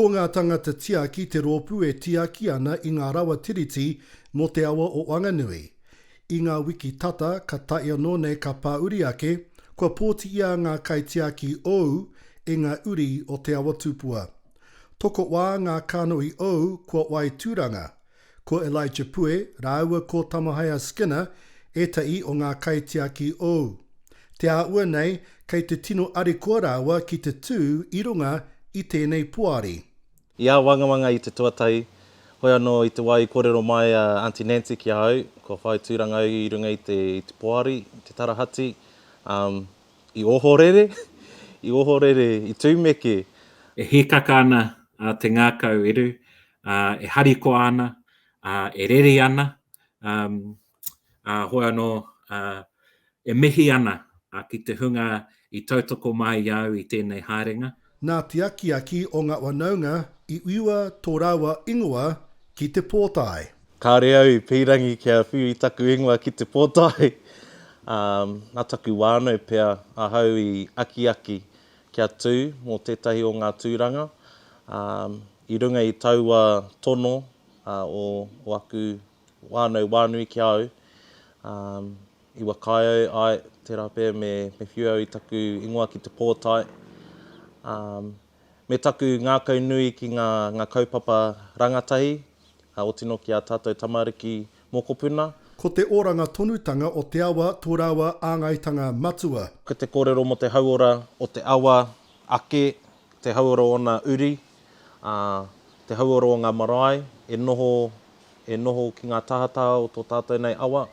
Ko ngā tangata tiaki te rōpū e tiaki ana i ngā rawa tiriti mō te awa o Wanganui. I ngā wiki tata ka tae anō nei ka pāuri ake, kua pōti i a ngā kaitiaki ou e ngā uri o Te Awa Tupua. Tokowā ngā kānohi ou kua wai tūranga, Ko Elijah Pue rāua ko Tamahaea Skinner ētahi o ngā kaitiaki ou. Te āhua nei kei te tino arikoa rāua ki te tū i runga i tēnei poari. I āwangawanga i te tuatahi, hoi anō i te wā i kōrero mai a Aunty Nancy ki a au, kua whai tūranga au i runga i te i te poari, i te tarahati, um, i ohorere, i ohorere, i tūmeke. E hīkaka ana te ngākau eru, e harikoa ana, e rere ana, hoi anō, e mihi ana ki te hunga i tautoko mai i a au i tēnei haerenga. Nā te akiaki o ngā whanaunga i whiua tō rāua ingoa ki te pōtae. Kāore au i pīrangi kia whiu i taku ingoa ki te pōtae, ā, nā taku whānau pea ahau i akiaki kia tū mō tētahi o ngā tūranga, ā, I runga i taua tono o aku whānau wānui ki a au, i whakaae ai tērā pea me whiu au i taku ingoa ki te pōtae, me taku ngākau nui ki ngā kaupapa rangatahi, o tino ki a tātou tamariki mokopuna. Ko te oranga tonutanga o te awa tō rāua āngaitanga matua. Ko te kōrero mō te hauora o te awa ake te hauora o ōna uri, ā, te hauora o ngā marae e noho, e noho ki ngā tahataha o tō tātou nei awa,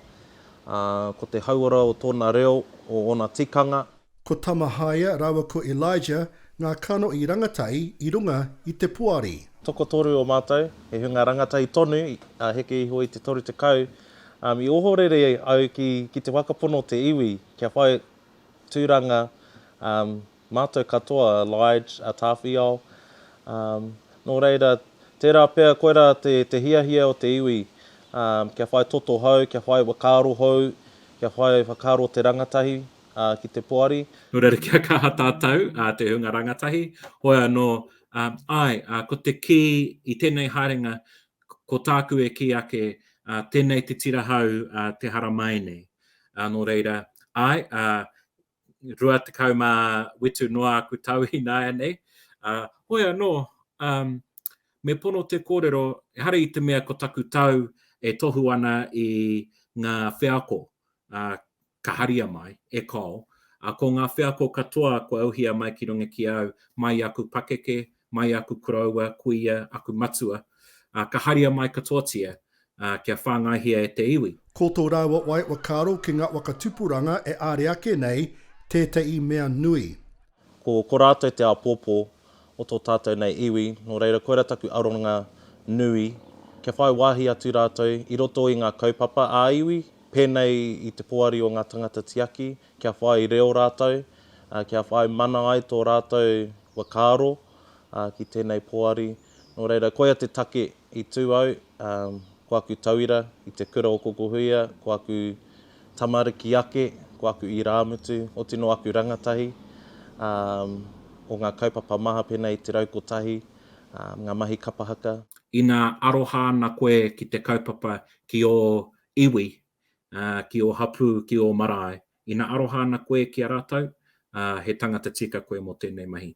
ā, ko te hauora o tōna reo, o ōna tikanga. Ko Tamahaia rāua ko Elijah ngā kano i rangatai i runga i te poari. Tokotoru o mātou, he hunga rangatai tonu, ā, heke iho i te toru tekau, ā, i ohorere au ki, ki te whakapono o te iwi kia whai tūranga, ā, Mātou katoa, a Lige, a Tāwhiao. Nō reira, tērā pea koirā te hiahia o te iwi kia whai toto hou, kia whai whakaaro hou, kia whai whakaaro o te rangatahi ki te poari. Nō reira, kia kaha tātou, te hunga rangatahi, hoi anō, āe, ko te kī i tēnei haerenga, ko tāku e kī ake, tēnei te tira hou te hara māi nei. Nō reira, āe, rua tekau mā whitu noa aku tau ināianei, ā, hoi anō, ā, me pono te kōrero, ehara i te mea ko taku tau e tohu ana i ngā wheako, ā, ka haria mai, e Col, ā, ko ngā wheako katoa kua uhia mai ki runga ki au, mai i aku pakeke, mai aku koroua, kuia, aku matua, ā, ka haria mai katoatia, ā, kia whāngaihia e te iwi. Ko tō rāua wai ua kāro ki ngā waka tupuranga e āre ake nei tētahi mea nui. Ko, ko rātou te āpōpō o tō tātou nei iwi, nō reira koirā taku aronga nui, kia whai wāhi atu rātou i roto i ngā kaupapa ā-iwi, pēnei i te poari o ngā tangata tiaki, kia whai reo rātou, kia whai mana ai tō rātou whakaaro ki tēnei poari. Nō reira, koia te take i tū au, ko aku tauira i te kura o Kokohuia, ko aku tamariki ake, ko aku irāmutu, oti nō aku rangatahi o ngā kaupapa maha pēnei i te rau kotahi, ngā mahi kapa haka. Ina aroha ana koe ki te kaupapa ki ō iwi, ā, ki ō hapū, ki ō marae. Ina aroha ana koe ki a rātou, ā, he tangata tika koe mō tēnei mahi.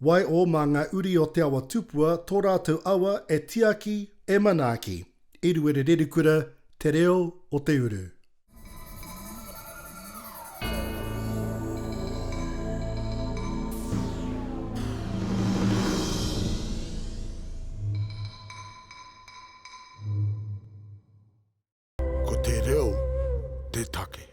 Waiho mā ngā uri o te awa tupua tō rātou awa e tiaki, e manaaki. Eruere Rerikura, Te Reo o te Uru. Ko te reo te take.